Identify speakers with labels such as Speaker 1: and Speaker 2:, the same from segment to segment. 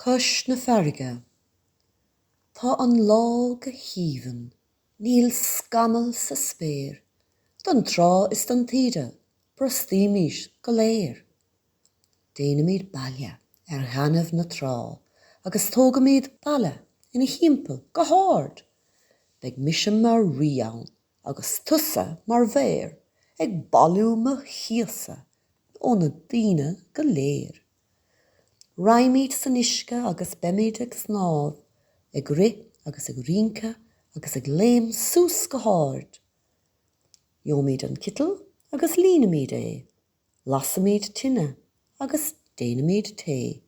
Speaker 1: Cois na farraige. Tá an lá go haoibhinn. Níl scamall sa spéir. Don trá is don taoide brostaímis go léir. Déanaimid baile ar ghainimh na trá agus tógaimid balla ina thimpeall go hard. Beidh mise mar rí ann agus tusa mar mhaor ag bailiú mo chíosa óna daoine go léir. Raghaimid san uisce agus beimid ag snámh, ag rith agus ag rince agus ag léim suas go hard. Gheobhaimid an citeal agus líonfaimid é, lasfaimid tine agus déanfaimid tae.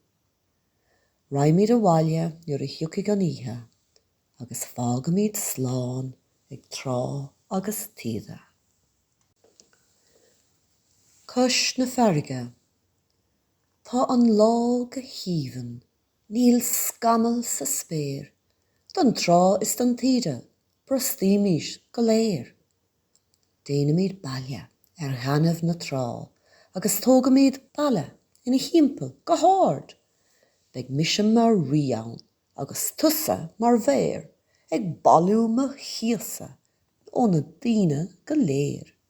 Speaker 1: Raghaimid abhaile nuair a thiocfaidh an oíche agus fágfaimid slán ag trá agus taoide. Cois na farraige. Tá an lá go haoibhinn, níl scamall sa spéir, don trá is don taoide brostaímis go léir. Déanaimid baile ar ghainimh na trá agus tógaimid balla ina thimpeall go hard. Beidh mise mar rí ann agus tusa mar mhaor ag bailiú mo chíosa óna daoine go léir.